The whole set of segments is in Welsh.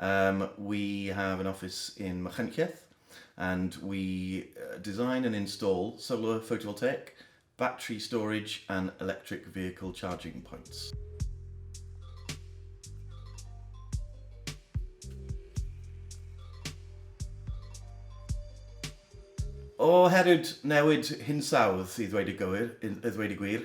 Um, we have an office in Machynlleth and we uh, design and install solar photovoltaic, battery storage and electric vehicle charging points. O herwyd newid hinsawdd i ddweud y, gywir, i ddweud y gwir,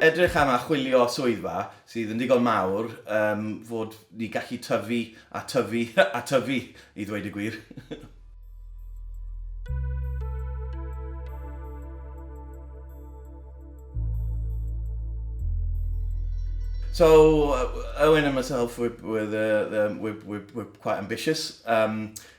Edrych am a chwilio swyddfa sydd yn ddigon mawr um, fod ni gallu tyfu a tyfu a tyfu i ddweud y gwir. So Owen and myself, we're, we're, the, the, we're, we're, we're quite ambitious. Um,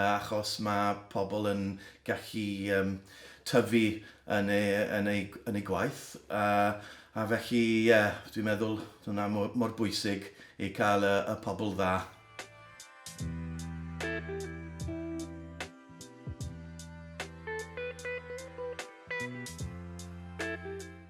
achos mae pobl yn gallu yym tyfu yn eu yn eu yn eu gwaith a a felly ie dwi'n meddwl hwnna mo- mor bwysig i cael y y pobl dda.